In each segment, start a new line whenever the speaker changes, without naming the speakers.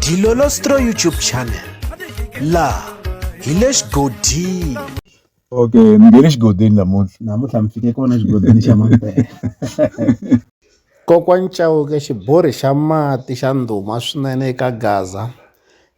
Dilolostro YouTube channel laha hi le xigodini okay
mi nge le xigodini namuntlha namuntlha mi fike kona xigodini xa mampela
kokwani chauke xiborhi xa mati xa ndhuma swinene eka gaza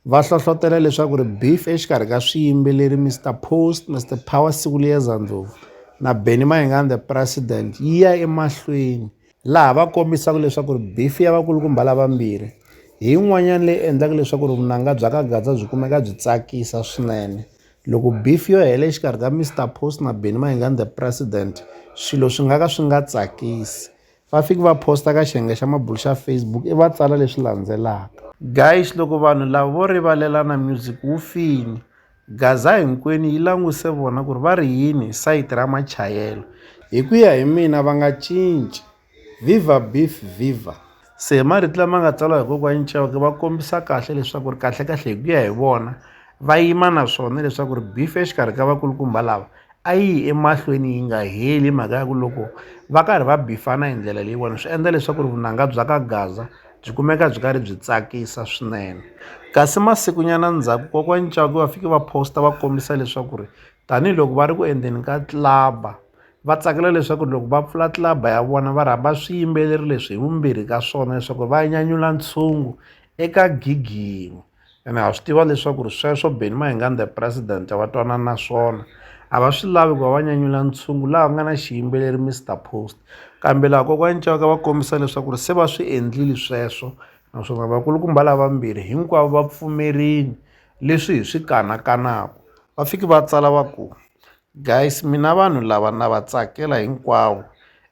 va hlohlotela leswaku ri beef exikarhi ka swiyimbeleri mr post mr power sikuliyeza ndlovu na benny mayengani the president yi ya emahlweni laha va kombisaka leswaku ri bifi ya vakulukumba lavambirhi hi yin'wanyana leyi endlaka leswaku ri vunanga bya ka gaza byi kumeka byi tsakisa swinene loko bifi yo hela exikarhi ka mr post na beni mayingani the president swilo swi nga ka swi nga tsakisi va fiki va posta ka xiyenge xa mabulu xa facebook i va tsala leswi landzelaka guys loko vanhu lava vo rivalelana music wu fini Gaza hinkwenu yi languse vona ku ri va ri yini hi sayiti ra machayelo. Hi ku ya hi mina va nga cinci. Viva Beef Viva! Se marito lama nga tsariwa hi kokwani Chauke va kombisa kahle leswaku ri kahlekahle hi ku ya hi vona va yima na swona leswaku ri beef exikarhi ka vakulukumba lava a yi yi emahlweni yi nga heli hi mhaka ya ku loko va karhi va bifana hi ndlela leyiwani swi endla leswaku ri vunanga bya ka Gaza byi kumeka byi karhi byi tsakisa swinene kasi masikunyana ndzhaku kokwani Ncaku va fike va posta va kombisa leswaku ri tanihiloko va ri ku endleni ka club-a va tsakela leswaku ri loko va pfula club-a ya vona va rhamba swiyimbeleri leswi hi vumbirhi ka swona leswaku va nyanyula ntshungu eka gig yin'we. ene ha swi tiva leswaku ri sweswo beni mahinganda president va twanana na swona a va swi lavi ku va va nyanyula ntshungu laha ku nga na xiyimbeleri mr post kambe laha kokwani caka va kombisa leswaku ri se va swi endlile sweswo naswona vakulukumba lavambirhi hinkwavo va pfumerini leswi hi swi kanakanaku va fiki va tsala va ku Guys mina vanhu lava na va tsakela hinkwavo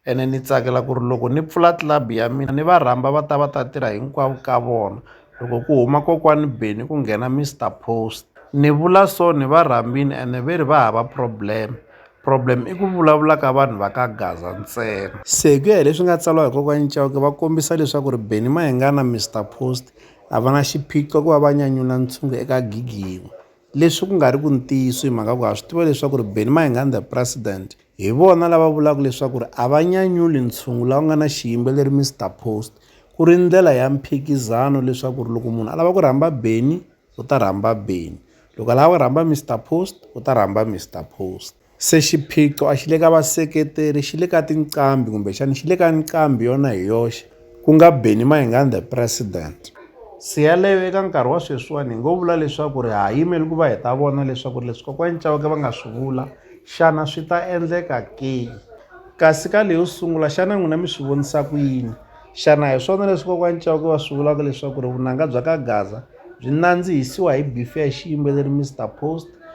ene ni tsakela ku ri loko ni pfula club ya mina ni va rhamba va ta va ta tirha hinkwavo ka vona loko ku huma kokwani Benny ku nghena Mister Post ni vula so ni va rhambini ene ve ri va hava problem problem i ku vulavula ka vanhu va ka Gaza ntsena se hi ku ya hi leswi nga tsariwa hi kokwani Chauke va kombisa leswaku ri Benny Mayengani na Mister Post a va na xiphiqo ku va va nyanyula ntshungu eka gigi yin'we. Leswi ku nga ri ku ntiyiso hi mhaka ku ha swi tiva leswaku ri Benny Mayenganda President hi vona lava vulaka leswaku ri a va nyanyuli ntshungu lawa nga na xiyimbeleri Mister Post ku ri ndlela ya mphikizano leswaku ri loko munhu a lava ku rhamba Benny u ta rhamba Benny loko a lava ku rhamba Mister Post u ta rhamba Mister Post. Se xiphiqo a xi le ka vaseketeri xi le ka tinqambi kumbexana xi le ka nqambi yona hi yoxe ku nga Benny Mayengani the president. Se yaleyo eka nkarhi wa sweswiwani hi ngo vula leswaku ri ha yimeli ku va hi ta vona leswaku ri leswi kokwani Chauke va nga swi vula xana swi ta endleka ke kasi ka leyo sungula xana n'wina mi swi vonisa ku yini xana hi swona leswi kokwani Chauke va swi vulaka leswaku ri vunanga bya ka gaza byi nandzihisiwa hi beef ya xiyimbeleri Mister Post.